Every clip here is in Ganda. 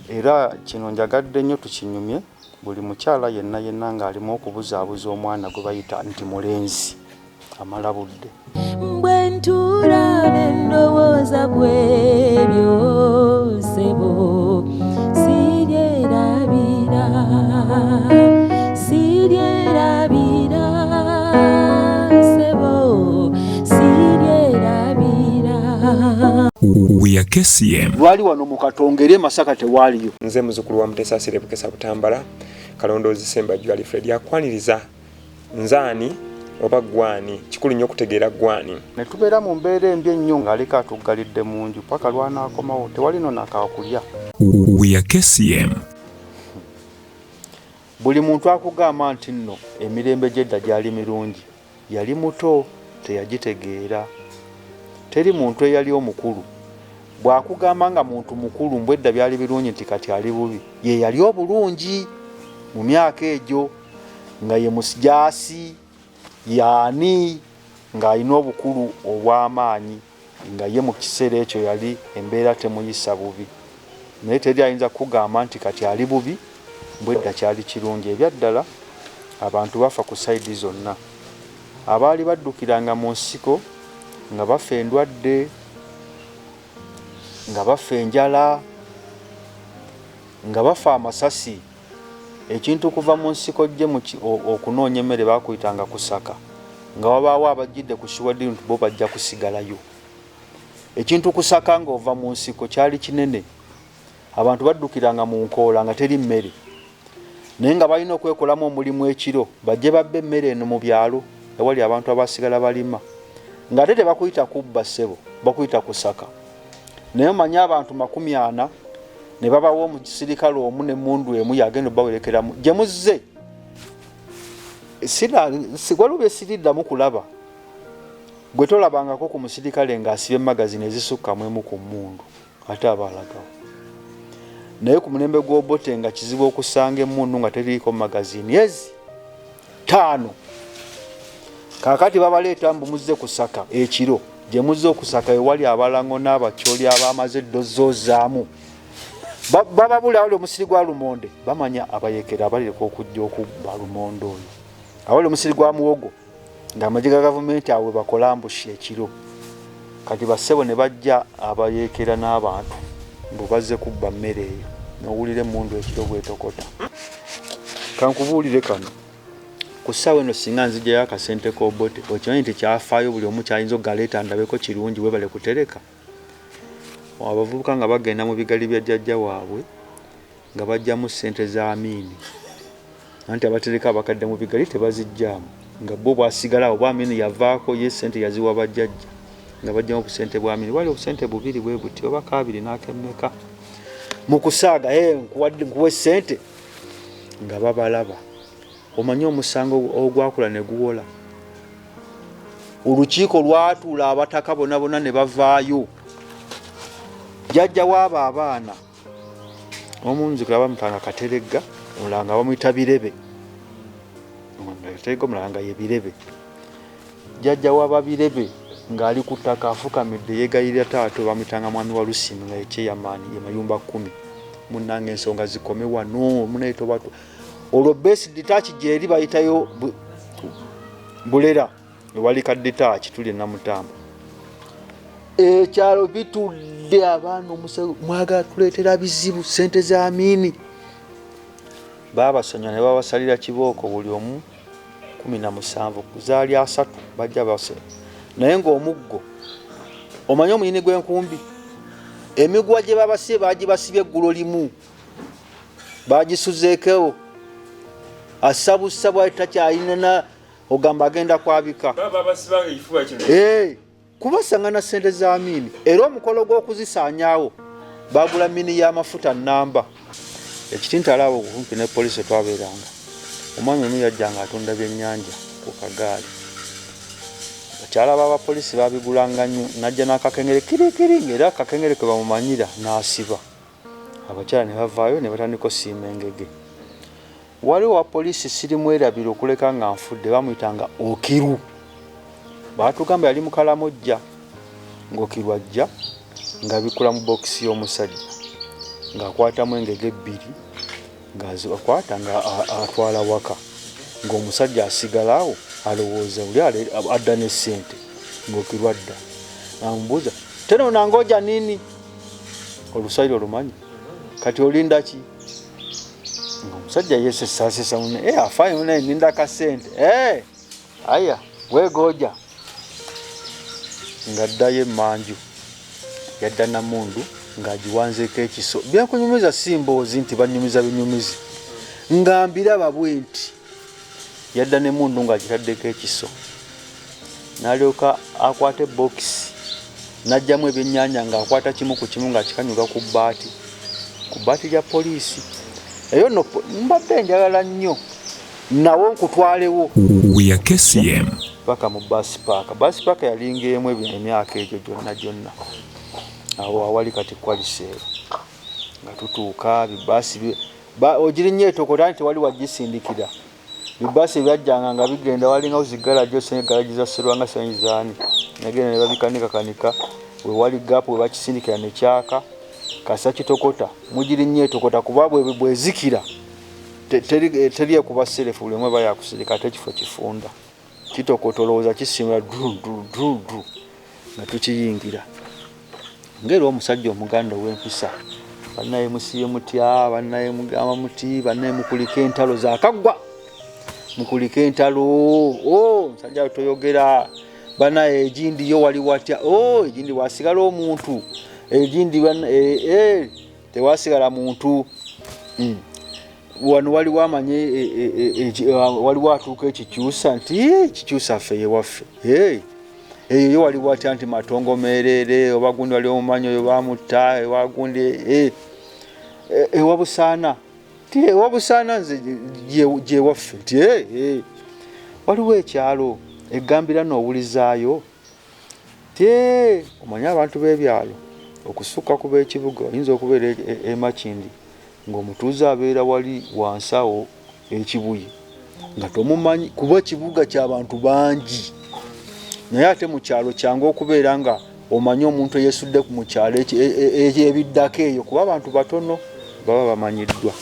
Era kino njagadde nnyo tukinyumye, buli mukyala yenna yenna ng'alimu okubuzaabuza omwana gwe bayita nti mulenzi, amala budde. Bwe ntuula ne ndowooza ku ebyo ssebo sibyerabira, sibyerabira ssebo sibyerabira. We are KCM. mukatongere masaka tewaliyo nze muzukulu wa mutesa asire bukesa butambala kalondoozi sembajju alifred akwaniriza nzaani oba gwani kikulu nnyo okutegeera gwani ne tubeera mu mbeera embi ennyo ng'aleka atuggalidde mu nju paka lwanaakomawo tewali no nakaakulya weyakesiem buli muntu akugamba nti nno emirembe gy'edda gyali mirungi Yali muto, teyagitegeera. Teri muntu eyali omukulu. Bw'akugamba nga muntu mukulu mbu edda byali birungi nti kati ali bubi, ye yali obulungi mu myaka egyo, nga ye musijaasi, ye ani, ng'alina obukulu obw'amaanyi. nga ye mu kiseera ekyo yali embeera temuyisa bubi naye teri ayinza kukugamba nti kati ali bubi mbu edda kyali kirungi ebyaddala abantu bafa ku sayidi zonna abaali baddukiranga mu nsiko nga bafa endwadde nga bafa enjala nga bafa amasasi Ekintu kuva mu nsiko ggye mu ki o, okunoonya emmere baakuyitanga kusaka. Nga wabaawo abajjidde ku Shuwadin nti bo bajja kusigalayo. Ekintu kusaka nga ova mu nsiko kyali kinene. Abantu baddukiranga mu nkoola nga teri mmere. Naye nga balina okwekolamu omulimu ekiro bajje babbe emmere eno mu byalo ewali abantu abaasigala balima. Nga ate tebakuyita kubba ssebo, bakuyita kusaka. naye omanyi abantu makumi ana ne babawo mu kisirikale omu ne mundu emu yagenda obawerekeramu gye muzze waliwo bye siriddamu kulaba gwe tolabangako ku musirikale ng'asiba emagazini ezisukka mu emu ku mundu ate aba alagawo naye ku mulembe gw'obote nga kizibu okusanga emundu nga teriiko magazini ezi ttaano kaakati babaleeta mbu muzze kusaka ekiro gye muzze okusaka ewali abalango n'abakyoli abaamaze eddozoozaamu bababula awali omusiri gwa lumonde bamanya abayekera abalireka okujja okubba lumonde oyo awali omusiri gwa muwogo ng'amagye ga gavumenti awo webakola mbushi ekiro kati bassebo ne bajja abayeekera n'abantu mbu bazze kubba mmere eyo nowulira emmundu ekiro bwetokota kankubuulire kano ku ssaawa eno singa nzijjayo akasente kobote okimanyi nti kyafaayo buli omu kyayinza okugaleeta ndabeko kirungi webale kutereka abavubuka nga bagenda mu bigali bya jjajja waabwe nga baggyamu ssente za Amiini anti abatereka abakadde mu bigali tebaziggyamu nga bo bwasigala oba Amiini yavaako ye ssente yaziwa bajjajja nga baggyamu obusente bwa Amiini wali obusente bubiri bwe buti oba kaabiri n'akemmeka mu kusaaga eh, nkuwa ssente nga babalaba omanyi omusango ogwakula ne guwola olukiiko lwatuula abataka bonabona ne bavaayo jajja waabo abaana omu nzikula bamutanga kateregga omulala nga bamuyita birebe kateregga omulala nga ye birebe jjajja wababirebe ng'ali ku ttaka afukamidde yeegayirira taata bamuyitanga mwami wa lusini nga yekyeyamaani ye mayumba kkumi munnanga ensonga zikome wano munayitobatu olwo besidi taaki gyeri bayitayo bulera ewali kadetaaki tuli enamutamba ekyalo bitudde abaana omuse mwagala tuleetera bizibu sente za miini babasanya ne babasalira kibooko buli omu kumi na musanvu zaali asatu bajja base naye ng'omuggo omanyi omuyini gw'enkumbi emiguwa gye babasibye bagibasibye eggulo limu bagisuzeekewo asabusa bwali takyayinana ogamba agenda kwabika eh, kubasanga na sente za mini era omukolo gw'okuzisaanyawo bagula mini y'amafuta namba ekitintalaabo okumpi ne polisi twabeeranga omwami omu yajja nga atunda byennyanja ku kagaali bakyala b'abapolisi babigulanga nnyo najja n'akakengere kirikiri ngaera akakengere ke bamumanyira n'asiba abakyala ne bavaayo ne batandika osiima engege. Waliwo owa poliisi sirimwerabira okuleka nga nfudde baamuyitanga Okiru. Baatugamba yali mu Kalamojja ng'Okiru ajja ng'abikkula mu bookisi y'omusajja ng'akwatamu engege ebbiri ng'azikwata ng'atwala waka ng'omusajja asigala awo alowooza oli adda n'essente ng'Okiru adda amubuuza tenoona ngoja nini oluswayiri olumanyi kati olinda ki omusajja yesesasesa mune e eh, afayo naye ninda kasente e eh, aya wegoja nga ddayo emanju yadda namundu ng'agiwanzeeko ekiso byakunyumiza si mboozi nti banyumiza binyumizi nga mbiraba bwe nti yadda nemundu ng'agitaddeko ekiso n'alyoka akwata ebbokisi n'ajjamu ebyennyanja ng'akwata kimu ku kimu ng'akikanyuga ku bbaati ku bbaati lya poliisi eyo no mbadde njagala nnyo nawo nkutwalewo weyakesiyem paka mu basi paaka basi paaka yalinga emu ebyo emyaka egyo gyonna gyonna awo awali kati kwaliseero nga tutuuka bibaasi Ba ogirinnya etokota anti tewali wajjisindikira. Bi bus ebyajjanga nga bigenda walingawo zi garage osanga garage za Serwanga sanyi zaani. Nagenda ne babikanika kanika we wali gap we bakisindikira ne kyaka. Kasa kitokota mugirinnya etokota kuba bwe bwezikira teri teri ekuba selefu buli omu aba yakusirika ate ekifo kifunda. Kitokota olowooza kisimula dudududu nga tukiyingira ngaera omusajja omuganda ow'empisa bannaye musiye mutya bannaye mugamba muti bannaye mukulika entalo zakaggwa mukulika entalo o oh, musajja toyogera banaye egindiyo wali watya o oh, egindi wasigala omuntu egindi eh, eh, tewasigala muntu mm. wano waliwo amanyi e, e, e, waliwo atuuka ekikyusa nti kikyusa ffe yewaffe eyo yo waliwo atya nti matongo meerere oba gundi wali omumanyi oyo bamutta ewa gundi ewa busaana ti ewa busaana nze gyewaffe nti waliwo ekyalo egambira nowulizaayo Tee! Omanyi abantu b'ebyalo okusukka ku b'ekibuga oyinza okubeera e, e, e Makindye ng'omutuuze abeera wali wansi awo e Kibuye nga tomumanyi kuba ekibuga ky'abantu bangi naye ate mu kyalo kyangu okubeera nga omanyi omuntu eyesudde mu kyalo e, e, ebiddako eyo kuba abantu batono baba bamanyiddwa.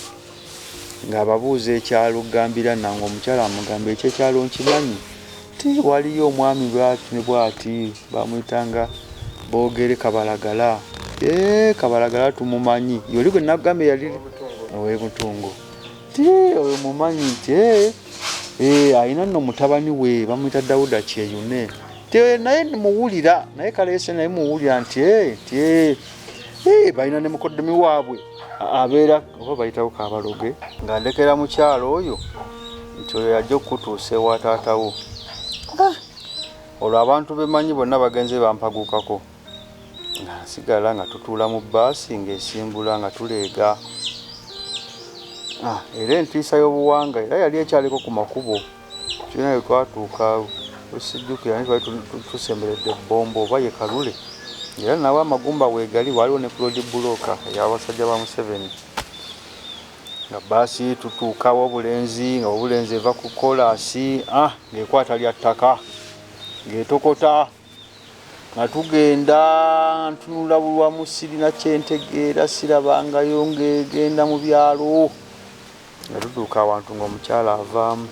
ng'ababuuza ekyalo Ggambira Nanga omukyala amugamba ekyo ekyalo nkimanyi ti waliyo omwami bwati ne bwati bamuyitanga boogere kabalagala ee kabalagala tumumanyi yoli gwe nagamba eyali owemutungo ti oyo mumanyi nti ee alina nno mutabani we bamuyita dawuda kyeyune naye muwulira naye kaleese naye muwulira nti ti Eh, balina ne mukoddomi waabwe abeera oba bayitawo kabaloge nga ndekera mukyalo oyo nti oyo yajja okukutuusa ewa taatawo ah. olwo abantu bemanyi bonna bagenze bampagukako nga nsigala nga tutuula mu baasi ng'esimbula nga tuleega ah, era entiisa y'obuwanga era yali ekyaliko ku makubo Tulina we twatuuka wesijjukira naye twali tusemberedde Bombo oba ye Kalule era nawo amagumba weegali waaliwo ne Claude Bulooka ey'abasajja ba Museveni nga bbaasi tutuuka Wobulenzi nga Wobulenzi eva ku kolaasi ah, ng'ekwata lya ttaka ng'etokota nga tugenda ntunula bulwamu sirina kyentegeera sirabangayo ng'egenda mu byalo Nga tutuuka awantu ng'omukyala avaamu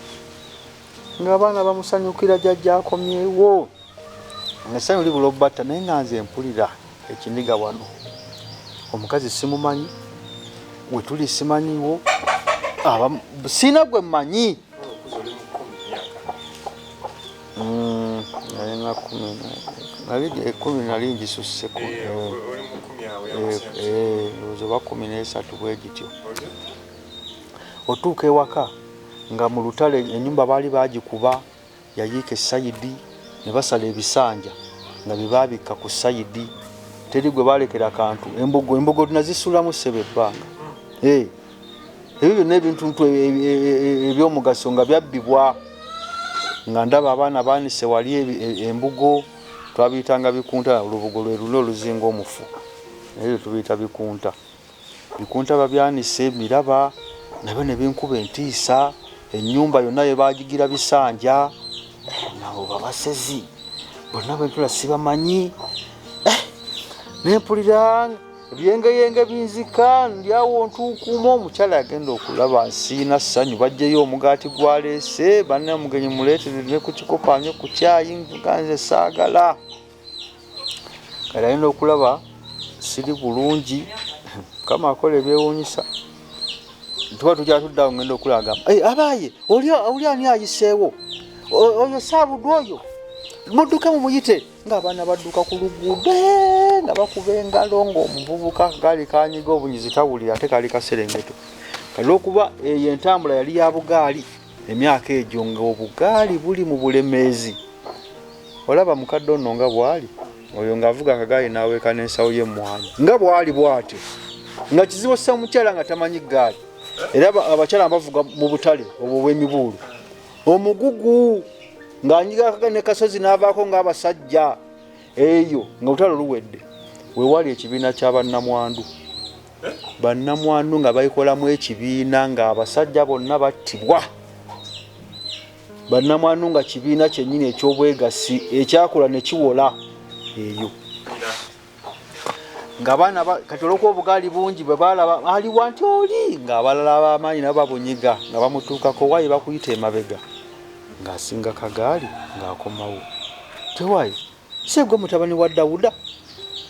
ng'abaana bamusanyukira jajja akomyewo ng'essanyu libula obatta naye nga nze mpulira ekiniga wano omukazi simumanyi wetuli simanyiwo sirina gwe mmanyi Mm, nalinga kumi nabidi ekumi eh, nali njisusse ozo ba kumi nesatu bwegityo otuuka ewaka nga mu lutale enyumba baali bagikuba yayiika esayidi ne basala ebisanja nga bebabikka ku sayidi teri gwe balekera kantu embogo embogo nazisulamu sebe ebbanga eh. ebyo byonna ebintuntu e, e, e, ebyomugaso nga byabbibwa nga ndaba abaana baanise wali embugo twabiyitanga bikunta olubugo lwe luna oluzinga omufu naye byo tubiyita bikunta bikunta babyanise miraba nabyo ne binkuba entiisa ennyumba yonna ye baagigira bisanja nabo babasezi bonna bentula sibamanyi eh, nempuliranga ebyengeyenge binzika ndyawo ntuukuuma omukyala yagenda okulaba nsiina ssanyu bajjeyo omugaati gwaleese banna omugenyi muleetere ne ku kikopanyo ku kyayi nga nze saagala kale alina okulaba siri bulungi mukama akola ebyewuunyisa tuba tujja tuddawo ngenda okulaga abaaye oli ani ayiseewo oyo saabudwa oyo mudduke mumuyite ng'abaana badduka ku luguudo eh, nga bakuba engalo ng'omuvubuka gaali kanyiga obunyizi tawulira ate kaali kaserengeto olwokuba eyo entambula yali ya bugaali emyaka egyo ng'obugaali buli mu bulemeezi olaba mukadde ono nga bwali oyo ng'avuga akagaali n'aweeka n'ensawo y'emmwanyi nga bwali bwatyo nga kizibu ossa omukyala nga tamanyi gaali era abakyala bavuga mu butale obwo obw'emibuulu omugugu ng'anyigakaga ne kasozi n'avaako ng'abasajja eyo nga lutalo luwedde wewali ekibiina kya bannamwandu bannamwandu nga baikolamu ekibiina ng'abasajja bonna battibwa bannamwandu nga kibiina kyennyini eky'obwegassi ekyakola ne kiwola eyo nga baana kati olwokuba obugaali bungi bwe baalaba ali wanti oli ng'abalala ab'amaanyi nabo babunyiga nga bamutuukako waayi bakuyita emabega ng'asinga kagaali ng'akomawo tewaayi seegwe mutabani wa dawuda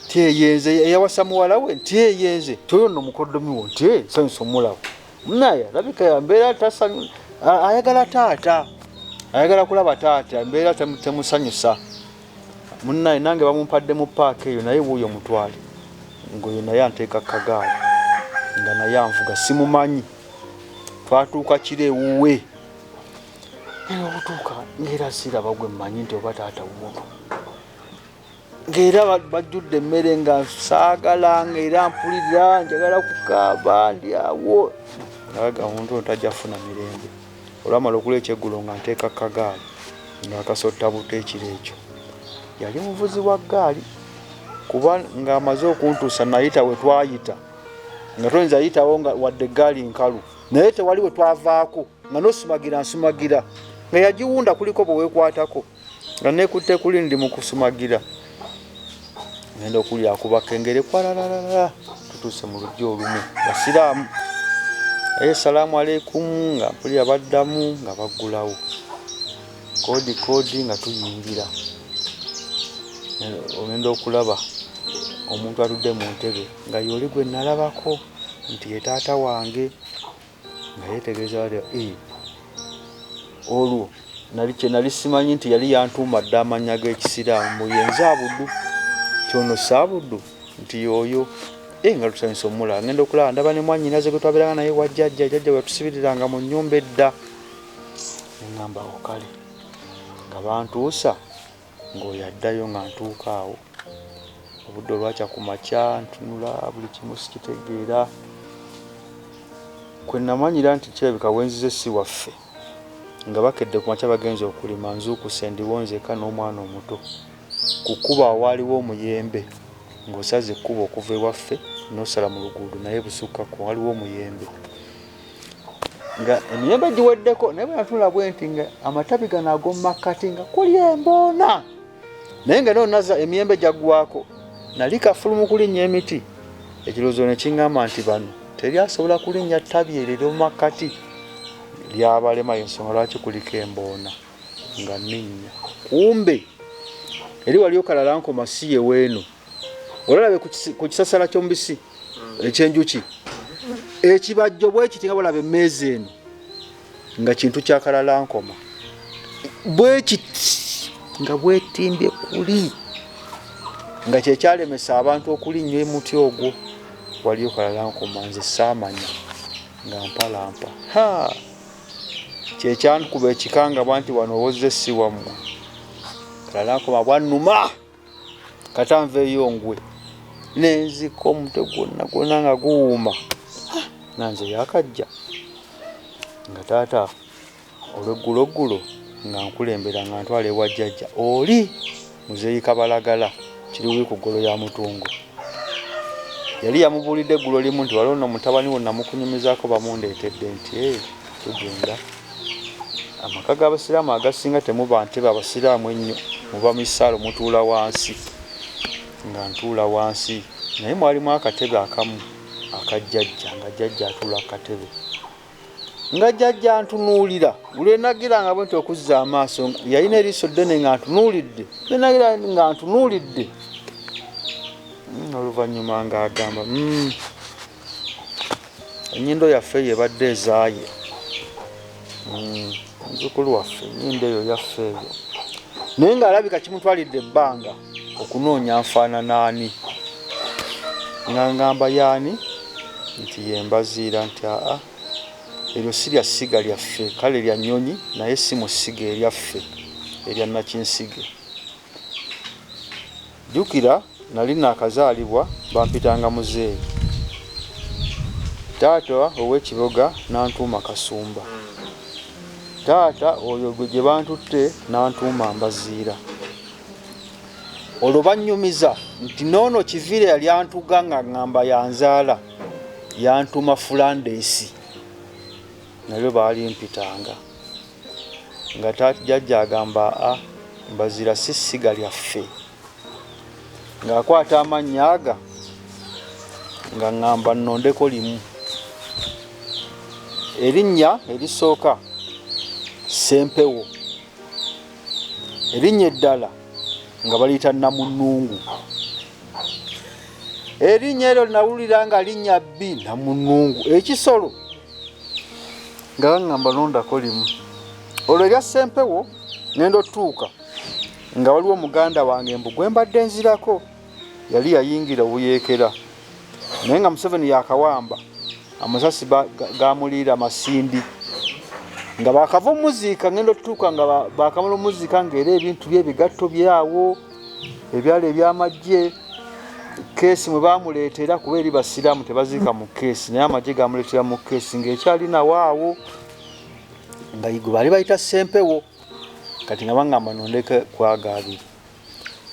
tyeyenze eyawasa muwala we ntyeyenze toyo no mukoddomi wo nti nsanyusa omulabo naye alabika yambeera tasanyu ayagala taata ayagala kulaba taata embeera temusanyusa Munaye nange bamumpadde mu park eyo naye wuuyo mutwale ngoyo naye anteeka kagaali nga naye anvuga simumanyi twatuuka kiro ewuwe naye okutuuka ngaera siraba gwe mmanyi nti oba taata wuuno ngaera bajjudde emmere nga saagala ngaera mpulira njagala kukaaba ndi awo aga omuntu ono tajja kufuna mirembe Olwamala okula ekyeggulo nga nteeka ku kagaali ng'akasotta buto ekiro ekyo. Yali muvuzi wa ggaali kuba ng'amaze okuntuusa nnayita we twayita nga toyinza yitawo nga wadde eggaali nkalu naye tewali we twavaako nga n'osumagira nsumagira nga yagiwunda kuliko bwe weekwatako. nga nekutte kuli ndi mu kusumagira ngenda okuli akuba kengere kwalalalala tutuuse mu lujja olumu basiraamu aye salaamu aleikumu nga mpulira baddamu nga baggulawo koodi koodi nga tuyingira ogenda okulaba omuntu atudde mu ntebe nga yooli gwe nalabako nti ye taata wange nga yeetegereza wali eh, olwo nali kye nali simanyi nti yali yantuuma dda amannya g'ekisiraamu mu yenze abuddu kyono saabuddu nti yooyo eh, nga tusanyusa omula ngenda okulaba ndaba ne mwannyinaze gwe twabeeranga naye wa jjajja jjajja bwe yatusibiriranga mu nnyumba edda ne ŋŋamba okale nga bantuusa Ng'oyo addayo nga ntuuka awo. Obudde olwakya ku makya ntunula buli kimu sikitegeera. Kwe namanyira nti kirabika we nzize si waffe. Nga bakedde ku makya bagenze okulima nzuukuse ndiwo nzeka n'omwana omuto. Ku kkubo awaaliwo omuyembe ng'osaze ekkubo okuva ewaffe n'osala mu luguudo naye busukkakku waliwo omuyembe. nga emiyembe giweddeko naye bwenatula bwenti nga amatabi gano agomumakkati nga kuli emboona naye nga nonaza emiyembe gyagwako nali kafulumu kulinnya emiti ekirowoozo ne kiŋŋamba nti bano teri asobola kulinnya ttabi eryo eryomumakkati lyabalema yensonga lwaki kuliko emboona nga ninnya kumbe eri wali okalala nkoma siye weeno olalabe ku kisasala ky'omubisi hmm. ekyenjuki ekibajjo bwekiti nga bwolaba emmeeza eno nga kintu kyakalalankoma bwekiti nga bwetimbye kuli nga kyekyalemesa abantu okulinnyo emuti ogwo waliyo kalalankoma nze saamanya nga mpalampa ha kyekyankuba ekikangabwa nti wano owozze si wammwe kalalankoma bwannuma kata nveeyo ngwe nenzika omutwe gwonna gwonna nga guwuuma nanze yakajja nga taata olweggulo ggulo nga nkulembera nga ntwala ewa jjajja oli muzeeyi kabalagala kiriwi ku ggolo ya mutungo yali yamubuulidde eggulo limu nti waliwo no mutabani wo namukunyumizaako bamundeetedde nti tugenda amaka g'abasiraamu agasinga temuba ntebe abasiraamu ennyo muba mu isaalo mutuula wansi nga ntuula wansi naye mwalimu akatebe akamu akajjajja nga jjajja atuula ku katebe nga jjajja ntunuulira lwenagira nga bwe nti okuzza amaaso yalina eriiso ddene nga ntunuulidde lwenagira nga ntunuulidde hmm, oluvannyuma ng'agamba hmm. Enyindo yaffe eyo ebadde ezaaye mm, muzukulu waffe enyindo eyo yaffe eyo naye ng'alabika kimutwalidde ebbanga okunoonya nfaananaani nga ngamba yaani nti yembaziira nti aa eryo si lya ssiga lyaffe kale lya nnyonyi naye si mu ssiga eryaffe erya nakinsige Jjukira nali nnaakazaalibwa bampitanga muzeeyi. Taata ow'e Kiboga n'antuuma Kasumba. Taata oyo gwe gye bantutte n'antuuma Mbaziira. Olwo bannyumiza nti n'ono Kiviira yali antuga nga ng'amba yanzaala yantuuma Fulandeesi. Nalyo baalimpitanga. nga ta jajja agamba a mbazira si ssiga lyaffe ng'akwata amannya aga nga ŋŋamba nnondeko limu erinnya erisooka sempewo erinnya eddala nga baliyita namunungu erinnya eryo nawulira nga linnya bbi namunungu ekisolo nga baŋŋamba londako limu olwo erya ssempewo nenda otuuka nga waliwo omuganda wange mbu gwe mbadde nzirako yali yayingira obuyeekera naye nga museveni yakawamba amasasi gamuliira amasindi nga bakava omuziika ngenda otutuuka nga bakamala omuziika ngaera ebintu bye ebigatto byawo ebyalo ebyamajje keesi mwe bamuleetera kuba eri basiraamu tebaziika mu keesi naye amagye gamuleetera mu keesi ng'ekyali nawaawo nga igwe baali bayita sempewo kati nga bangamba nondeke kwaga abiri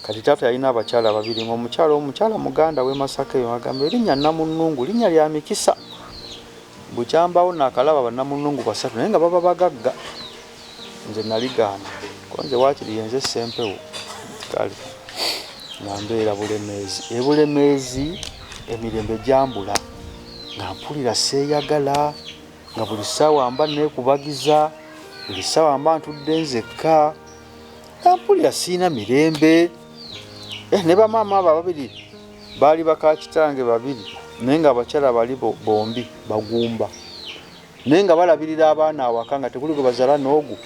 kati taata yalina abakyala babiri nga omukyala omukyala muganda we masaka eyo agamba erinnya namunnungu linnya lya mikisa bukyambawo nakalaba banamunnungu basatu naye nga baba bagagga nze naligaana kuba nze waakiri yenze ssempewo kale nga mbeera bulemeezi ebulemeezi emirembe gyambula nga mpulira seeyagala nga buli ssaawa mba neekubagiza buli ssaawa mba ntudde nzekka nga mpulira siina mirembe eh, ne bamaama abo ababiri baali bakakitange babiri naye nga abakyala bali bombi bagumba naye nga balabirira abaana awaka nga tekuli gwe bazala noogu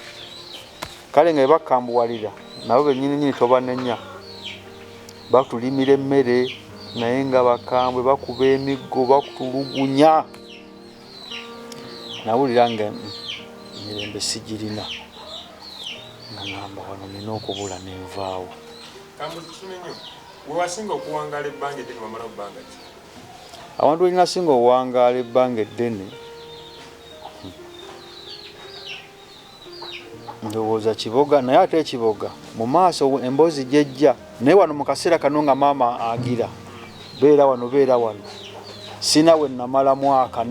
kale nga bebakambuwalira nabo benyininyini tobanenya batulimira emmere naye nga bakambwe bakuba emiggo bakutulugunya nawulira nga mirembe sigirina nga ngamba wano nina okubula nenvaawo wewasinga okuwangala ebbanga eddene wamala bbanga ki Awantu we nnasinga okuwangaala ebbanga eddene ndowooza kiboga naye ate ekiboga mu maaso emboozi gyejja naye wano mu kaseera kano nga maama agira beera wano beera wano sina we namala mwaka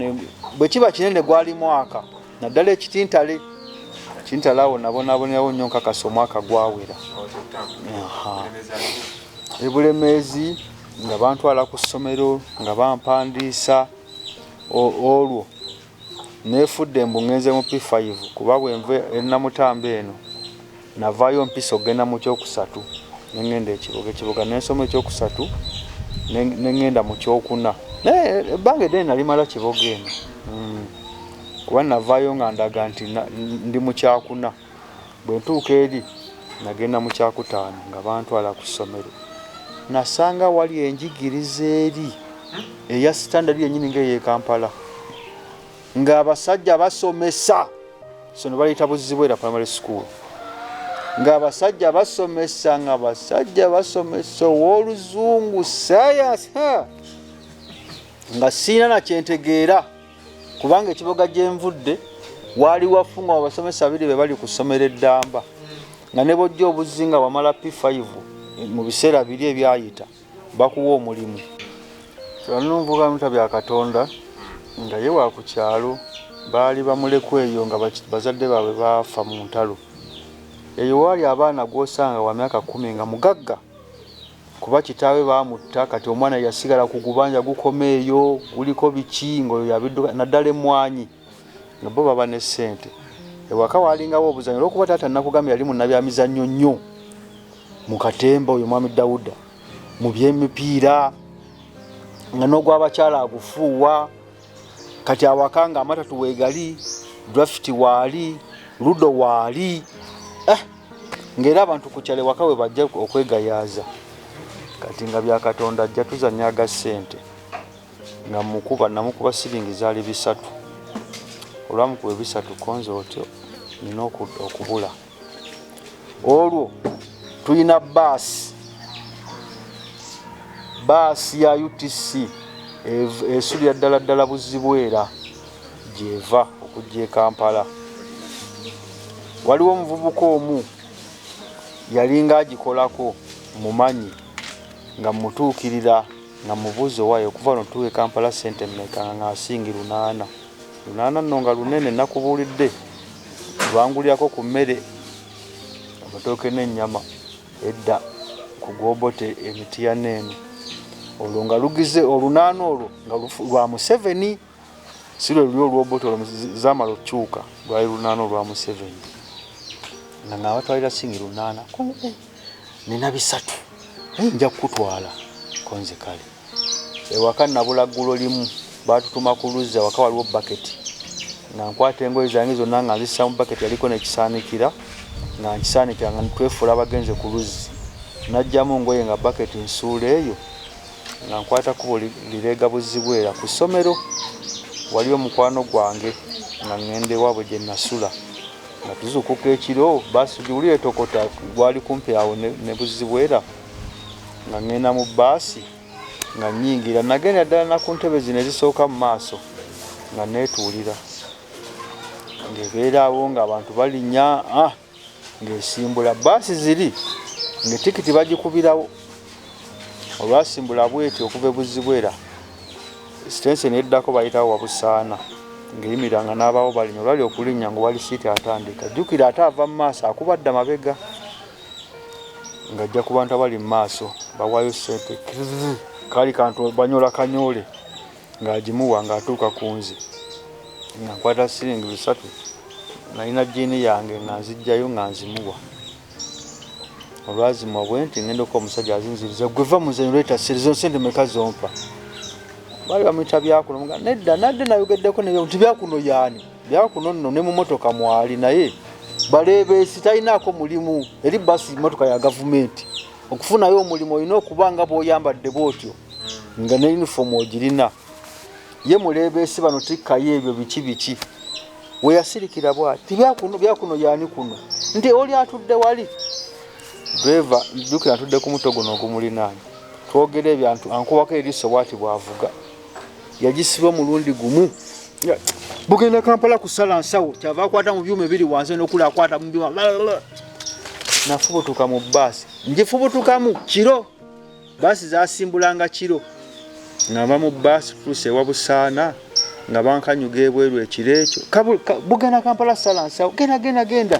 bwe kiba kinene gwali mwaka naddala ekitintale kintale awo nabonabonerawo nnyo nkakasa omwaka gwawera ebulemeezi nga bantwala ku ssomero nga bampandiisa olwo nefudde mbu ngenze mu p5 kuba bwenva enamutamba eno navaayo mpisa okugenda mu kyokusatu nengenda ekibuga ekibuga nensoma ekyokusatu nengenda mu kyokuna naye ebbanga eddene nalimala kiboga eno hmm. kuba navaayo nga ndaga nti ndi mukyakuna Bwe ntuuka eri, nagenda mu kyakutaano nga bantwala ku ssomero. Nasanga awali enjigiriza eri eya sitandadi yennyini ng'ey'e Kampala, ng'abasajja basomesa. Essomero baliyita Buzzibwera Primary School. Ng'abasajja basomesa, ng'abasajja basomesa ow'Oluzungu, ssaayansi, ha! Nga sirina na kye ntegeera. kubanga ekiboga gye nvudde waali wafungwa abasomesa babiri be bali ku ssomero eddamba nga ne bojja obuzzi nga wamala p5 mu biseera biri ebyayita bakuwa omulimu kyanonvuga muta bya katonda nga ye wa ku kyalo baali bamulekwa eyo nga bazadde baabwe baafa mu ntalo eyo waali abaana gw'osanga wa myaka kumi nga mugagga kuba kitaawe baamutta kati omwana yasigala ku gubanja gukoma eyo guliko biki ngaoyo yabidduka naddala emmwanyi nga bo baba ne ssente ewaka waalingawo obuzanyo olwokuba taata nakugambye yali munabyamizannyo nnyo mu katemba oyo mwami dawuda mu byemipiira nga n'ogwabakyala agufuuwa kati awaka nga amata tuwegali draft waali ludo waali eh, ngaera abantu kukyale waka we bajja okwegayaaza kati nga byakatonda ajja tuzanya aga ssente nga mukuba namukuba siringi zaali bisatu olwamukuba ebisatu konze otyo nina okubula olwo tulina baasi baasi ya utc esulira ddala ddala buzibwera gyeva okujja e kampala waliwo omuvubuka omu yalinga agikolako mumanyi nga mutuukirira nga mubuuzi owaayo okuva notuuka e kampala sente meka nga ngasingi lunaana Lunaana nno nga lunene nakubuulidde lwangulyako ku mmere, amatooke n'ennyama edda ku gw'Obote e Mityana eno. Olwo nga lugize olunaana olwo nga lwa Museveni si lwe luli olw'Obote olwo zaamala okukyuka lwali lunaana olwa Museveni nga nga batwalira singi lunaana nina bisatu naye nja kukutwala konze kale. ewaka nabula ggulo limu baatutuma ku luzzi awaka waliwo baketi nga nkwata engoye zange zonna nga nzissa mu baketi yaliko nekisaanikira nga nkisaanikira nga twefuula abagenze ku luzzi najjamu ngoye nga baketi nsuula eyo nga nkwata kubo lireega buzibwera ku ssomero waliyo omukwano gwange nga ŋŋenda ewaabwe gye nasula nga tuzuukuka ekiro baasi giwulira etokota gwali kumpi awo ne buzibwera nga ŋŋenda mu bbaasi nga nnyingira nagenda ddala na ku ntebe zino ezisooka mu maaso nga neetuulira ng'ebeeraawo ng'abantu balinnya ah, ng'esimbula bbaasi ziri ng'etikiti bagikubirawo olwasimbula bweti okuva ebuzibwera sitensi neddako bayitawo wabusaana ng'eyimira nga n'abaawo balinya olwali okulinnya nga wali siiti atandika jjukira ate ava mu maaso akubadda mabega ng'ajja ku bantu abali mu maaso bawaayo ssente kaali kantu banyola kanyoole ng'agimuwa ng'atuuka ku nze nga nkwata siringi bisatu nalina jiini yange nga nzijjayo nga nzimuwa olwazimuwa bwe nti ngenda okuba omusajja azinziriza gwe va muzanyo leeta sirizo nsente meka zompa baali bamuyita byakuno nedda nadde nayogeddeko nti byakuno yaani byakuno nno ne mu motoka mwali naye baleebeesi talinaako mulimu eri basi motoka ya gavumenti okufunayo omulimu olina okuba nga bwoyambadde bwotyo nga ne yunifoomu ogirina ye muleebeesi bano tikkayo ebyo biki biki weyasirikira bwati tibyakuno byakuno yani kuno nti oli atudde wali dreva jukira atudde ku muto guno ogumulinaanyi twogere ebyantu ankuwako eriiso bwati bwavuga yagisiba omulundi gumu bugenda kampala kusala nsawo kyava akwata mu byuma ebiri wansi nokula akwata mu byuma nafubutuka mu baasi ngifubutukamu kiro baasi zasimbulanga kiro ngava mu baasi tuuse ewa busaana nga bankanyuga ebweru ekiro ekyo bugenda kampala sala nsawo genda genda genda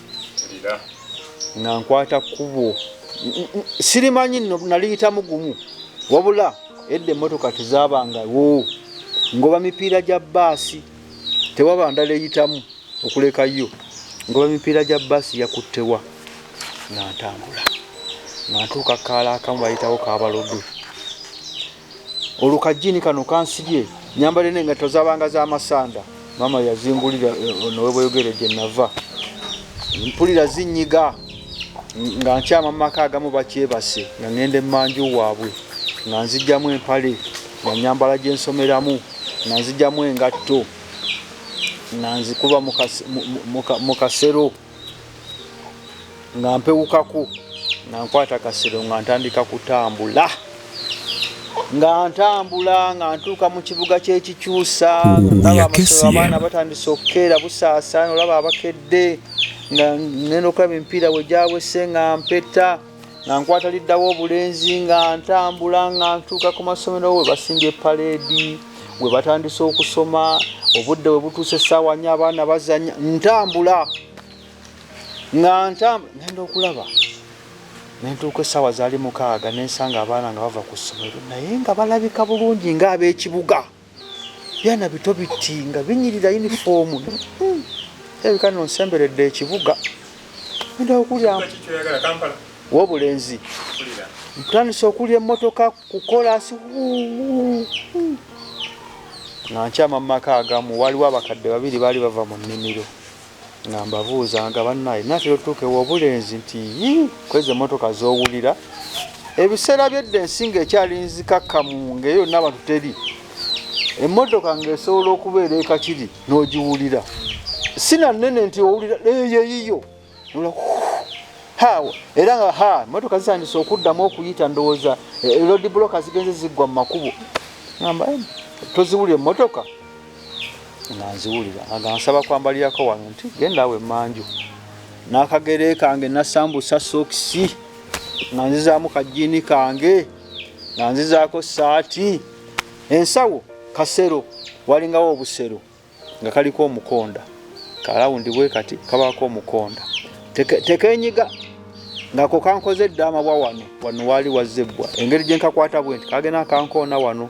nga nkwata kkubo sirimanyi nno naliyitamu gumu wabula edda emmotoka tezabangawo ngoba mipiira gya baasi tewaba ndala eyitamu okuleka yo ngoba mipiira gya baasi yakuttewa nga ntambula nga ntuuka kaala akamu bayitawo kabalodwe olwo kajjiini kano kansibye nyambale n'engatto zabanga z'amasanda maama yazingulira eh, ono webweyogere gye nava mpulira zinyiga nga nkyama mu maka agamu bakyebase nga ŋŋenda emmanju waabwe nga nzijjamu empale nga nyambala gye nsomeramu nga nzijjamu engatto nga nzikuba mu kasero nga mpewukaku nga nkwata kasero nga ntandika kutambula nga ntambula nga ntuuka mu kibuga kyekikyusa abaana batandise okukeera busaasana olaba abakedde nga nenda okulaba emipiira wegyawese nga mpeta nga nkwata liddawo obulenzi nga ntambula nga ntuuka ku masomero we basimbye paleedi we batandise okusoma obudde we butuuse essaawa nyo abaana bazanya ntambula nga ntambula ngenda okulaba nentuuka essaawa zaali mukaaga nensanga abaana nga bava ku ssomero naye nga balabika bulungi ng'ab'ekibuga byana bito bitinga binyirira uniform ebika no nsemberedde ekibuga nda okulya wobulenzi ntandise okulya emmotoka kukolasi nga nkyama mu maka agamu waliwo abakadde babiri baali bava mu nnimiro nga mbabuuza nga bannaye natera otuuka ewobulenzi nti yii kwezi emmotoka zowulira ebiseera byedda ensi nga ekyali nzikakkamu ngaeyo yonna abantu teri emmotoka ngaesobola okubeera ekakiri n'ogiwulira sinanene nti owulira eyeyiyo hawa era nga ha emmotoka zisandise okuddamu okuyita ndowooza elodi e, bloka zigenze ziggwa mu makubo amba toziwulira emmotoka nga nziwulira aga nsaba kwambalirako wano nti genda awo emanju n'akagere kange nasambusa sokisi nga nzizaamu kajjiini kange nga nzizaako saati ensawo kasero walingawo obusero nga kaliko omukonda kalawundi bwe kati kabaako omukonda tekenyiga ngako kankoze eddaama bwa wano wano waali wazzebbwa engeri gye nkakwata bwe nti kagenda kankoona wano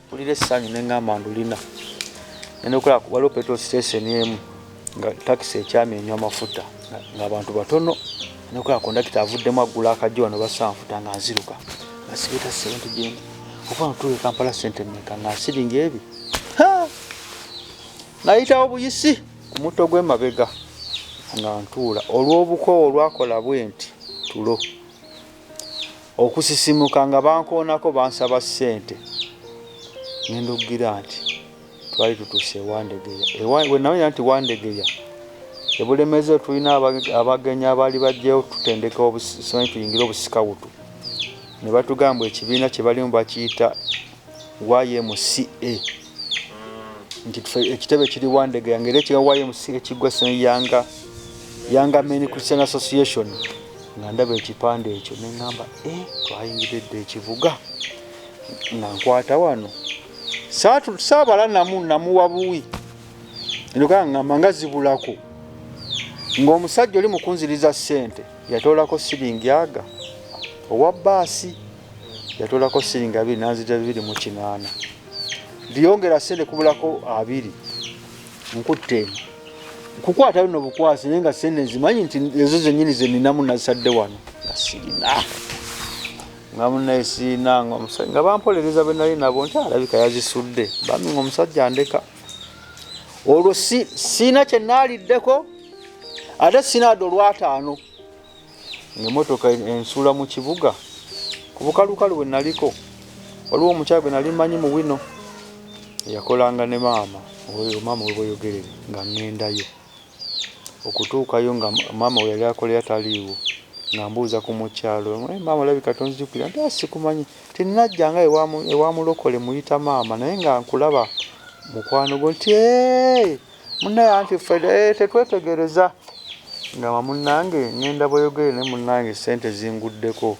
mpulira essanyu ne ŋŋamba ndulina ngenda okola waliwo petrol station emu nga takisi ekyami enywa amafuta ng'abantu batono nokola kondakita avuddemu aggula akajjo wano basanfuta nga nziruka nga sireeta sente gyendi okuba notuula ekampala sente meka nga nsiringa ebi nayitawo buyisi ku mutto gw'emabega nga ntuula olw'obukoowo olwakola bwe nti tulo okusisimuka nga bankoonako bansaba ssente ne nduggira nti twali tutuuse ewandegeya wenamanya nti wandegeya ebulemezi otulina abagenyi abaali bajjayo tutendeka obusimanyi tuyingire obusikawutu ne batugamba ekibiina kye balimu bakiyita ymca nti ekitebe kiri wandege yange era ekya ymc ekigwa yanga yanga men christian association nga ndaba ekipande ekyo neŋamba e eh, twayingiridde ekivuga nga nkwata wano saabala namu namuwa buwi ndogaa ŋamba nga zibulako ng'omusajja oli mukunziriza ssente yatoolako siringi aga owa baasi yatoolako siringi abiri nanzija bibiri mu kinaana biyongera sente kubulako abiri nkutte eno nkukwatayo no bukwasi naye nga sente nzimanyi nti ezo zenyini zeninamu nazisadde wano nga sirina nga munaye sirina nga omusajja nga bampolereza benali nabo nti alabika yazisudde bami nga omusajja andeka olwo sirina kyenaliddeko ate sinaada olwataano ng'emmotoka ensuula mu kibuga ku bukalukalu bwe naliko waliwo omukyala gwe nali manyi mu wino eyakolanga ne maama oyo maama webweyogerere nga ŋŋendayo okutuukayo nga maama we yali akolera taliiwo nga mbuuza ku mukyalo eh, maama olabika tonzijukira nti ah, sikumanyi tinajja nga ewamulokole muyita maama naye nga nkulaba mukwano gwo nti Munaye anti ffe eh, tetwetegereza nga wamunange ngenda boyogere ne munange sente zinguddeko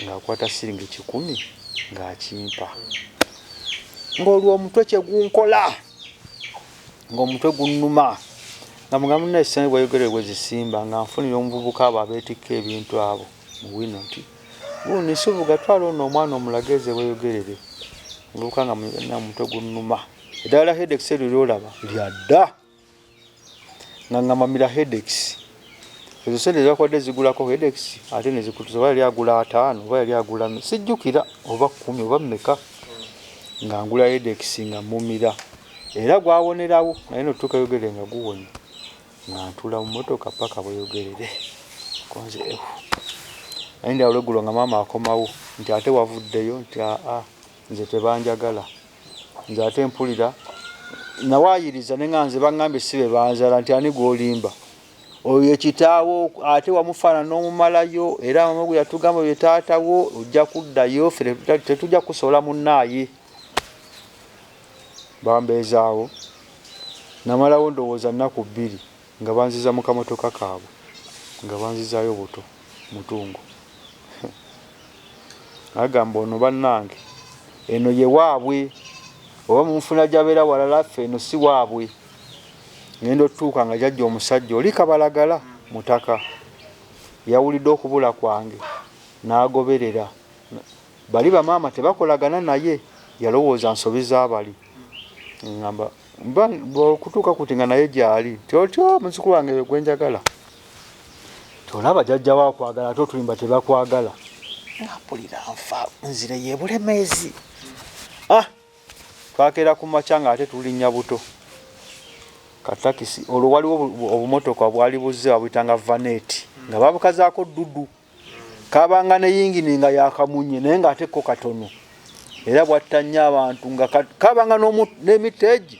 ng'akwata siringi kikumi ng'akimpa ng'olwo omutwe kye gunkola ng'omutwe gunnuma nga mugambo nnaye sente bweyogere bwe zisimba nga nfunira omuvubuka abo abeetikka ebintu abo mu wino nti gundi nsubuga twala ono omwana omulageeze bweyogerere omuvubuka nga omutwe gunnuma Eddagala hedex eryo lyolaba lya dda nga ngamba mira hedex ezo sente zakwade zigulako hedex ate nezikutuza oba yali agula ataano oba yali agula sijjukira oba kumi oba meka nga ngula hedex nga mumira era gwawonerawo naye notuuka yogere nga guwonye nga ntula mu motoka paka bweyogerere konze ehu naye ndi awulegulo nga maama akomawo nti ate wavuddeyo nti aa ah, ah. nze tebanjagala nze ate mpulira nawayiriza ne nga nze bangambye si bebanzala nti ani gwolimba oyo yekitaawo ate wamufaana n'omumalayo era mama gwe yatugamba ye taatawo ojja kuddayo fe tetujja kusobola munnaaye bambeezaawo namalawo ndowooza nnaku bbiri Nga banziza mu kamotoka kaabwe nga banzizaayo buto mutungo nagamba ono banange eno ye waabwe oba munfuna jabeera walala ffe eno si waabwe ngenda otuuka nga jajja omusajja oli kabalagala mutaka yawulidde okubula kwange nagoberera bali bamaama tebakolagana naye yalowooza nsobi zabali ngamba Mba okutuuka kuti nga naye gyali ti otyo muziku wange gwe njagala tolaba jajja wa kwagala ate otulimba tebakwagala mpulira nfa nzire yebulemeezi ah twakera ku makya nga ate tulinnya buto katakisi olwo waliwo obumotoka bwali buzze babuyitanga vaneti nga babukazaako dudu mm. kabanga ne yingini nga yakamunye naye nga ate ko katono era bwatta nnyo abantu nga kabanga n'emiteegi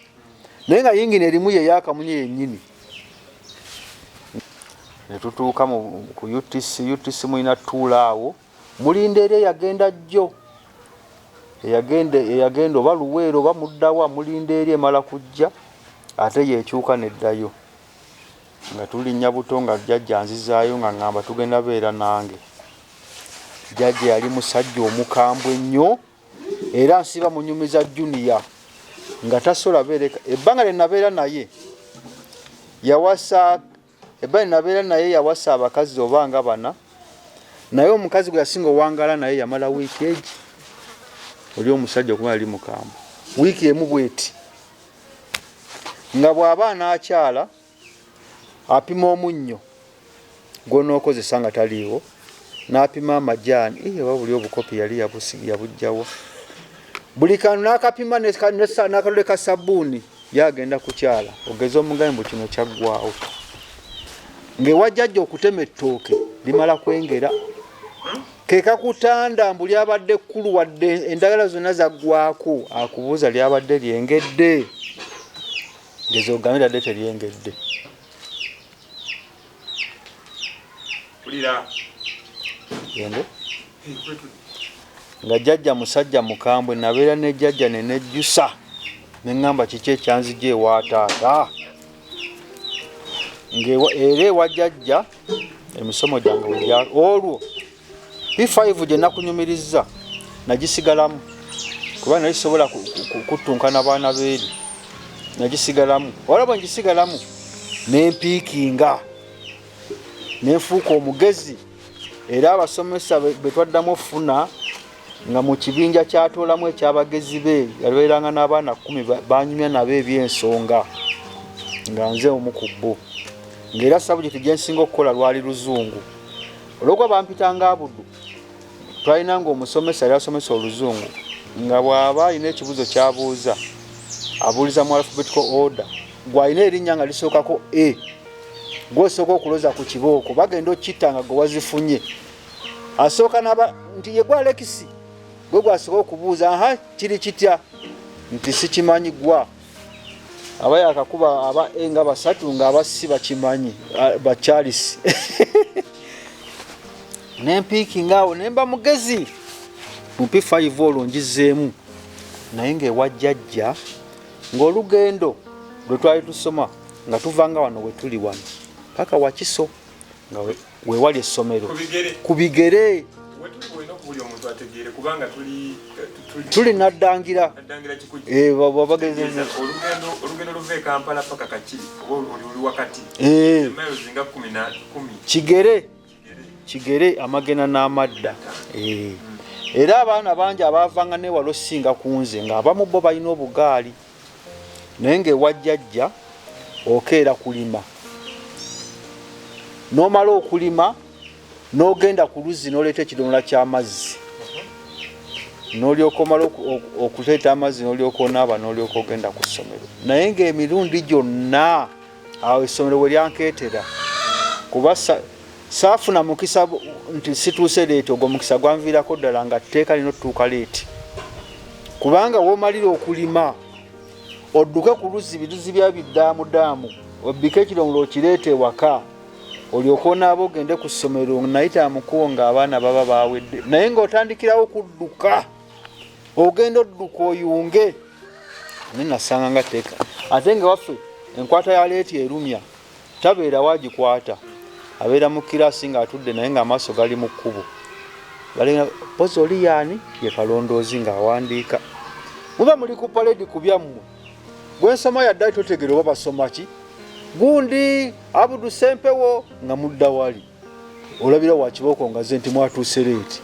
naye nga yingini erimu ye yakamunye yennyini ne tutuuka ku utc utc mulina tuula awo mulinda era eyagenda jjo eyagenda oba luweero oba muddawa mulinda eri emala kujja ate yekyuka neddayo Nga tulinnya buto nga jjajja anzizaayo nga ngamba tugenda beera nange. Jjajja yali musajja omukambwe nnyo era nsiba munyumiza junior nga tasobola beereka ebbanga lye nabeera naye yawasa ebbanga lye nabeera naye yawasa abakazi oba nga bana naye omukazi gwe yasinga owangala naye yamala wiiki egi oli omusajja okuba yali mukambwe wiiki emu bweti nga bw'aba anaakyala apima omunnyo gw'onookozesa nga taliiwo n'apima amajaani eh, oba buli obukopi yali yabujjawo buli kantu n'akapima n'akalule ka sabbuuni yagenda kukyala ogeze omugabi mbu kino kyaggwawo ng'ewajjajja okutema ettooke limala kwengera kekakutanda mbu lyabadde kkulu wadde endagala zonna zaggwako akubuuza lyabadde lyengedde ngezi ogambe tadde teryengedde gende nga jajja musajja mukambwe nabeera ne jajja nenejjusa neŋŋamba kiki ekyanzija ewa taata era ewa jajja emisomo gyange olwo P5 gye nakunyumirizza nagisigalamu kuba nali sisobola kuttunka na baana beeri nagisigalamu olaba ngisigalamu nempiikinga nenfuuka omugezi era abasomesa bwe twaddamu okufuna nga mu kibinja kyatoolamu ekyabagezi be yabeeranga n'abaana kumi banyumya nabo ebyensonga nga nze omu ku bbo ngaera sabujeti gyensinga okukola lwali luzungu olwokuba bampitanga abuddu twalina nga omusomesa yali asomesa oluzungu nga bw'aba alina ekibuuzo kyabuuza abuuliza mu alphabetical order gwalina erinnya nga lisookako e gwosooka okuloza ku kibooko bagenda okitta nga gwe wazifunye asooka naba nti yegwa alekisi gwe gwasooka okubuuza aha kiri kitya nti sikimanyi gwa aba yakakuba aba e nga basatu nga abassi bakimanyi ba charles nempiiki ngaawo nemba mugezi mumpi 5 olwo ngizeemu naye ngaewajjajja ng'olugendo lwe twali tusoma nga tuvanga wano wetuli wano paka wakiso nga wewali essomero ku bigere tuli naddangira eh, babagezeza eh. kigere kigere amagena n'amadda eh. era abaana bangi abaavanga newala osinga ku nze ng'abamu bo balina obugaali naye ngaewa jjajja okeera kulima nomala okulima nogenda ku luzzi noleeta ekidomola kyamazzi nolyokomala okuleeta amazzi nolyokonaaba nolyoka ogenda ku ssomero naye ngaemirundi gyonna awo essomero we lyankeetera kuba saafuna mukisa nti situuse leeti ogwo mukisa gwanviirako ddala nga tteeka lino tutuuka leeti kubanga womalira okulima odduke ku luzzi biruzi bya bidaamudaamu obbika ekiromulo okireeta ewaka olyoka onaaba ogende ku ssomero nayita mukubo ng'abaana baba bawedde naye ng'otandikirawo okudduka ogenda odduka oyunge nenasanga nga teka ate nga waffe enkwata ya leeti erumya tabeera wagikwata abeera mu kirasi nga atudde naye nga amaaso gali mu kkubo pozi oli yaani ye kalondoozi ng'awandiika muba muli ku paledi ku byammwe gwensoma yaddali totegere oba basoma ki gundi abudu sempewo nga mudda wali olabira wa kibooko ngaze nti mwatuuse leeti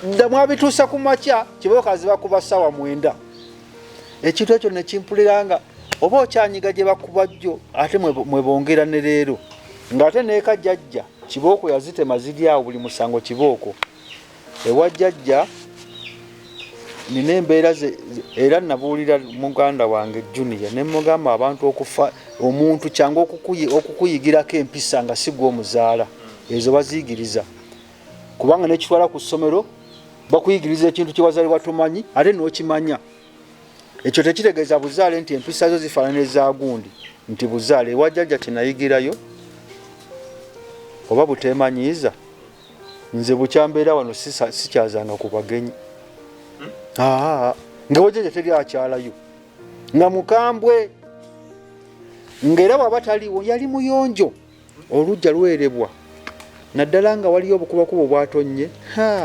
dda mwabituusa ku makya kibooko aziba kuba ssaawa mwenda ekintu ekyo nekimpulira nga oba okyanyiga gye bakuba jjo ate mwebongera ne leero ng'ate neeka jajja kibooko yazitema ziri awo buli musango kibooko Ewa jjajja nina embeera era nabuulira muganda wange junior ne mugamba abantu okufa omuntu kyangu okukuyigirako empisa nga sigwa omuzaala ezo baziyigiriza kubanga nekitwala ku ssomero bakuyigiriza ekintu kyewazalibwa tomanyi ate nokimanya ekyo tekitegeeza buzaale nti empisa zo zifaanana ezagundi nti buzaale ewa jjajja kyenayigirayo oba buteemanyiiza nze bukya mbeera wano sikyazanga ku bagenyi hmm? nga wajaja teri akyalayo nga mukambwe ngaera bwaba taliwo yali muyonjo olujja lwerebwa naddala nga waliyo obukubakuba obwatonye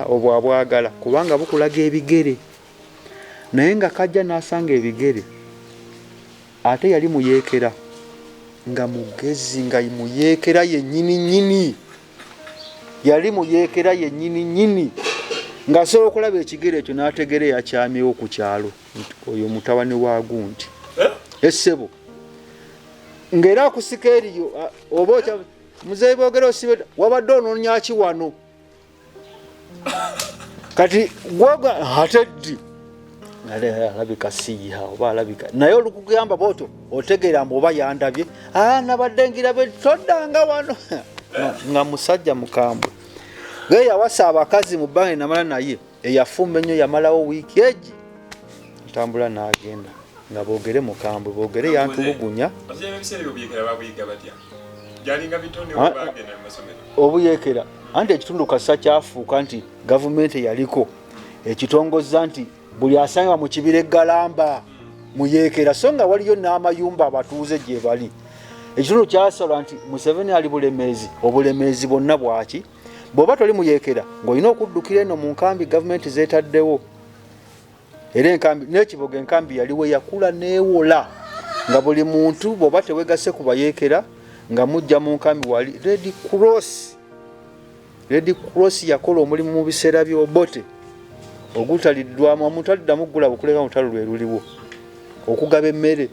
obwo abwagala kubanga bukulaga ebigere naye nga kajja nasanga ebigere ate yali muyekera nga mugezi nga muyekera yenyini nyini yali mu yeekera yennyini nnyini ng'asobola okulaba ekigere ekyo n'ategera eyakyamyewo ku kyalo oyo mutabani wa gundi essebo eh? e ng'era akusika eriyo oba muzeeyi boogera osibe wabadde onoonyaki wano kati gwoga ateddi alabika siyiha oba alabika naye olukugamba bwoto otegeera mbu oba yandabye ah, nabadde ngirabe toddanga wano nga musajja mukambwe naye yawasa abakazi mu bbanga enamala naye eyafumba ennyo yamalawo wiiki egi ntambula n'agenda nga boogere mukambwe boogere yantulugunya obuyekera anti ekitundu kasa kyafuuka nti gavumenti eyaliko ekitongozza nti buli asangibwa mu kibira eggalamba muyekera so nga waliyo n'amayumba abatuuze gye bali ekitundu kyasalwa nti museveni ali bulemeezi obulemeezi bwonna bwaki bw'oba toli muyekera ng'olina okuddukira eno mu nkambi gavumenti zeetaddewo era enkambi n'ekiboga enkambi yaliwo yakula neewola nga buli muntu bw'oba tewegase ku bayeekera nga mujja mu nkambi wali red cross red cross yakola omulimu mu biseera by'obote ogutaliddwamu omuntu addamu gula bukuleka olutalo lwe luliwo okugaba emmere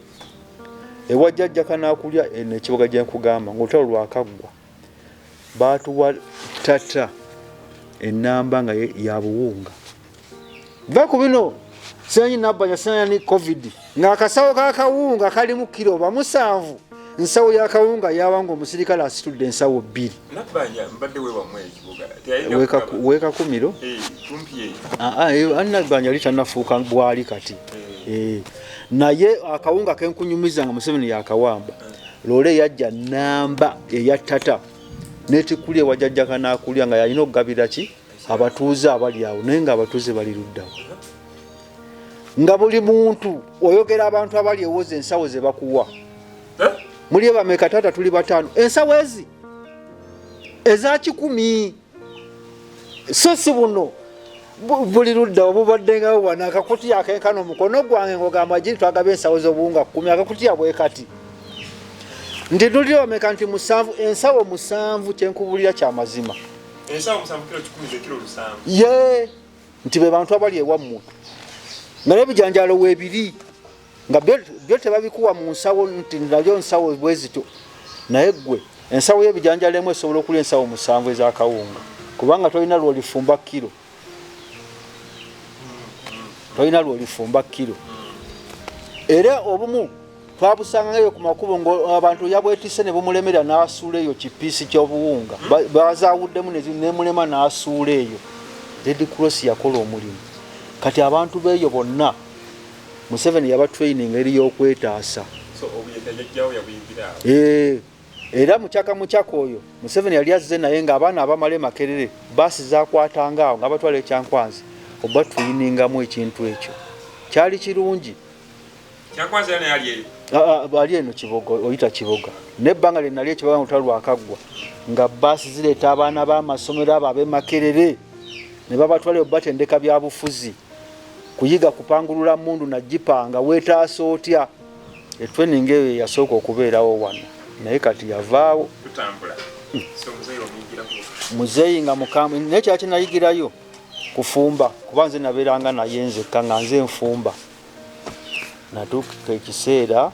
ewajjajjaka n'akulya eh, nekiboga gye nkugamba ng'olutalo lwakaggwa baatuwa tata enamba nga yabuwunga va ku bino simanyi nabbanya simanyi covid ng'akasawo kakawunga kalimu kiro bamusanvu nsawo yakawunga yawanga omusirikale asitudde ensawo bbiri wekakumiro eh, ah, ah, eh, annabbanja yali tanafuuka bwali kati eh. naye akawunga kenkunyumiza nga museveni yakawamba loole yajja namba eya tata netikuli ewajajja kanakulya nga yalina okugabira ki abatuuze abali awo naye nga abatuuze bali luddawo nga buli muntu oyogera abantu abali ewoza ensawo zebakuwa eh? muli ebameka taata tuli bataano ensawo ezi eza kikumi so si buno buli ludda obubaddengawo wano akakutiya akenkana omukono gwange ngogamba giri twagaba ensawo z'obuwunga kumi akakutiya bwe kati ndi luli omeka nti musanvu ensawo musanvu kyenkubulira kya mazima ye nti be bantu abali ewammwe naye ebijanjalo weebiri nga byo tebabikuwa mu nsawo nti nayo nsawo bwezityo naye ggwe ensawo y'ebijanjalo emu esobola okulya ensawo musanvu ez'akawunga kubanga tolina lwolifumba kiro tolina lwolifumba kiro era obumu twabusangayo ku makubo ngaabantu yabwetise ne bumulemera n'asuula eyo kipiisi ky'obuwunga bazawuddemu nemulema n'asuula eyo red cross yakola omulimu kati abantu beeyo bonna Museveni yaba training eri yokwetaasa eh, era mukyaka mukyaka oyo Museveni yali azze naye nga abaana abamala emakerere baasi zakwatanga awo nga abatwala ekyankwanzi oba tuyiningamu ekintu ekyo kyali kirungi ali eno kiboga oyita kiboga nebbanga lyenali ekiboga nga lutalo lwakaggwa nga baasi zireeta abaana b'amasomero abo ab'emakerere ne babatwalayo batendeka byabufuzi kuyiga kupangulula mundu na jipanga wetaasa otya etrening eyo yasooka okubeerawo wano naye kati yavaawo muzeeyi nga mukambwe naye kyala kyenayigirayo kufumba kuba nze nabeeranga naye nzekka nga nze nfumba Natuuka ekiseera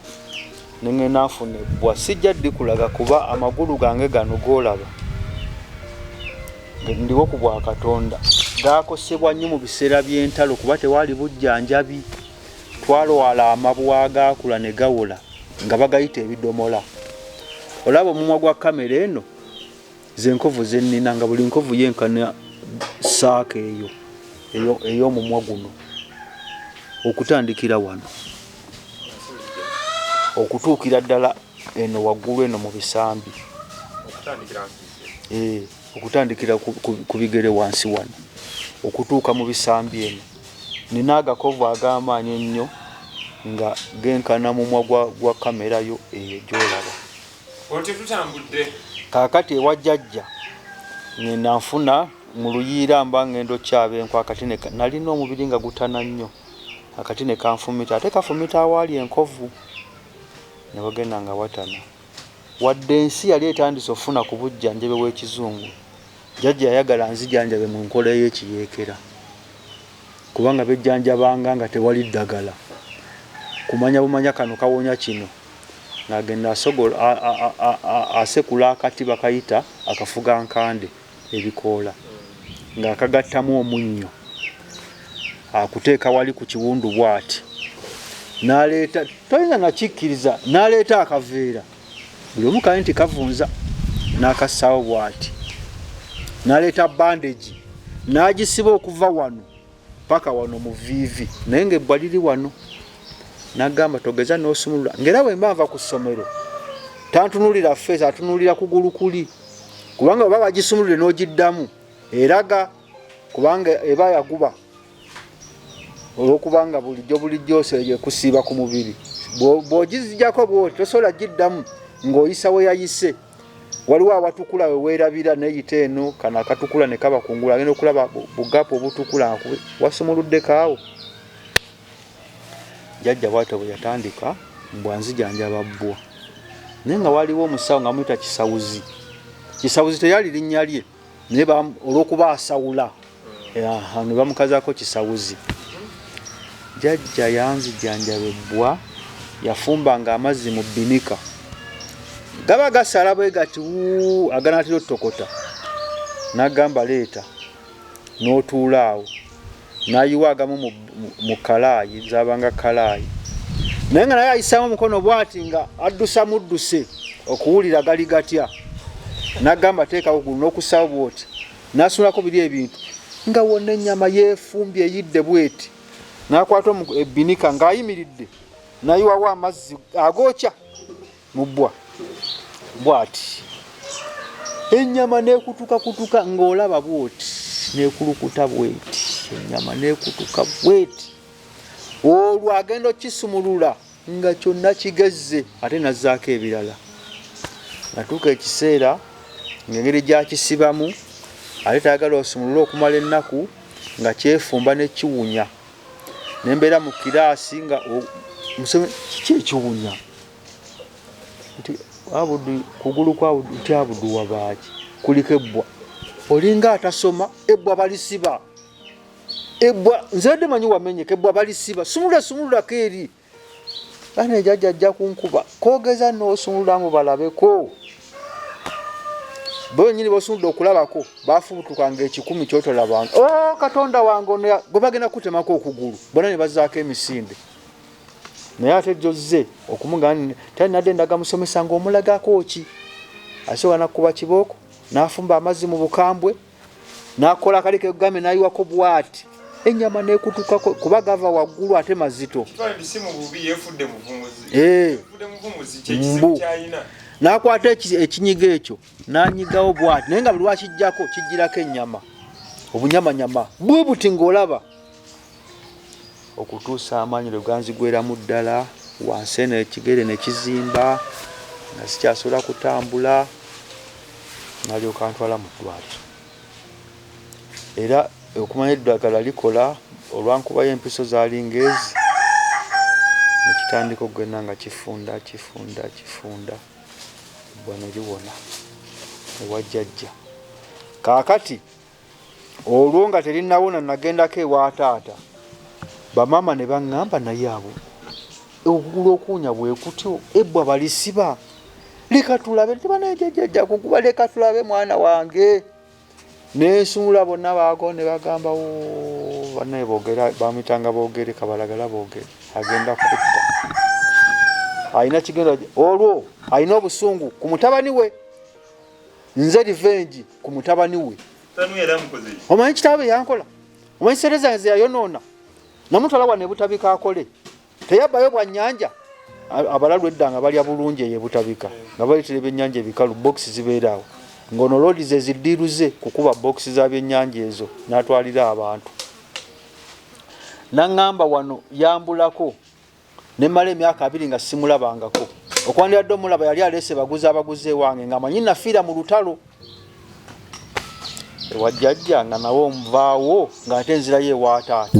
ne ngenda nfuna ebbwa. Sijja dikulaga kuba amagulu gange gano g'olaba ndiwo ku bwa Katonda gaakosebwa nnyo mu biseera by'entalo kuba tewaali bujjanjabi. Twalwala amabwa agaakula ne gawola nga bagayita ebidomola. Olaba omumwa gwa kamera eno? Ze nkovu ze nnina nga buli nkovu yenkana saaka eyo ey'omumwa guno okutandikira wano okutuukira ddala eno waggulu eno mu bisambi okutandikira eh, ku bigere wansi wano okutuuka mu bisambi eno nina agakovu ag'amaanyi ennyo nga genkana mumwa gwa kamera yo eyo gyolaba Kaakati ewa jjajja ng'enda nfuna mu luyiira mba ng'enda okyaba enku akati nalina omubiri nga gutana nnyo akati ne kanfumita ate kafumita awaali enkovu ne wagenda nga watana wadde ensi yali etandise okufuna ku bujjanjabe bw'ekizungu jjajja yayagala nzijanjabe mu nkola ey'ekiyeekera kubanga bejjanjabanga nga tewali ddagala kumanya bumanya kano kawonya kino ng'agenda asekula akati bakayita akafugankande, ebikoola ng'akagattamu omunnyo akuteeka wali ku kiwundu bw'ati n'aleeta toyinza nakikkiriza n'aleeta akaveera buli omu kali nti kavunza n'akassaawo bw'ati n'aleeta bandegi n'agisiba okuva wano. paka wano mu viivi naye ngaebbwa liri wano nagamba togeza nosumulula ngaera wemba nva ku ssomero tantunulira feesi atunulira kugulu kuli kubanga oba bagisumulule n'ogiddamu eraga kubanga eba yaguba olwokubanga bulijjo bulijjo oseeyo ekusiiba ku mubiri bwogizijako bwoti tosobola giddamu ng'oyisa weyayise waliwo awatukula weweerabira neyita eno kana akatukula ne kaba kungulu agenda okulaba bugapu obutukula wasumuluddeko awo jajja bwatyo bwe yatandika mbwa nzijanjaba bbwa naye nga waliwo omusawo nga muyita kisawuzi kisawuzi teyali linnya lye naye olwokuba asawula ne bamukazako kisawuzi jajja yanzijanjaba ebbwa yafumba nga amazzi mu binika gaba gasala bwe gati aganatera otokota nagamba leeta notuula awo nayiwa agamu mu kalaayi nzabanga kalaayi naye nga naye ayisaamu omukono bwati nga addusa mudduse okuwulira gali gatya nagamba teekawo gulu n'okusawo bwoti nasunulako biri ebintu nga wonna ennyama yeefumbye eyidde bweti nakwata ebinika ng'ayimiridde nayiwawo amazzi agokya mu bbwa bwati ennyama nekutukakutuka ng'olaba bwoti nekulukuta bweti ennyama nekutuka bweti olwo agenda okukisumulula nga kyonna kigezze ate nazzaako ebirala natuuka ekiseera ng'engeri gyakisibamu ate tayagala osumulule okumala ennaku nga kyefumba nekiwunya nembeera mu kiraasi nga kiki ekiwunya nti abudu kugulu kwa abudu nti abudu wabaaki kuliko ebbwa olinga atasoma ebbwa balisiba ebbwa nzadde manyi wamenyeka ebbwa balisiba sumulula sumululako eri ana ejaja ajja kunkuba kogeza nosumululamu balabeko bonyini bosumuludde okulabako bafubutuka nga ekikumi kyotolabanga o oh, katonda wange ono gwe bagenda kutemako okugulu bona ne bazaako emisinde naye ate jozze okumugani tali nadde ndaga musomesa ngaomulagako ki asobola nakukuba kibooko nafumba amazzi mu bukambwe nakola akali kegame nayiwako bwati enyama nekutukako kuba gava waggulu ate mazito eh. mbu nakwata ekinyiga ekyo nanyigawo bwati naye nga buli wakijjako kijjirako enyama obunyamanyama bwe buti ngaolaba okutuusa amaanyi lwe ganzigweramu ddala wansi eno ekigere ne kizimba nga sikyasobola kutambula nalyoka ntwala mu ddwaliro era okumanya eddagala likola olwankubayo empiso zaali ngaezi nekitandika okugenda nga kifunda kifunda kifunda ebbwa ne liwona ewa jjajja kaakati olwo nga terinawona nagendako ewa taata bamaama ne baŋŋamba naye abo okugula okuwunya bwe kutyo ebbwa balisiba leka tulabe tebanajajajja kukuba leka tulabe mwana wange nensuula bonna baago ne bagambawo banaye bogera bamitanga bogere kabalagala bogere agenda kutta alina kigenda olwo alina obusungu ku mutabani we nze livengi ku mutabani we omanyi kitaabe yankola omanyi sente zange zeyayonoona namutwala wa nebutabika akole teyabbayo bwanyanja abalalu edda nga balya bulungi eyebutabika nga baletera ebyenyanja ebikalu bokisi zibeeraawo ngaono loodi ze ziddiiruze kukuba bokisi za byenyanja ezo natwalira abantu naŋŋamba wano yambulako ne mmala emyaka abiri nga simulabangako okwandibadde omulaba yali aleese baguzi abaguzi ewange nga manyi nafiira mu lutalo ewajjajja nga nawe omuvaawo ng'ate nzirayo ewaataata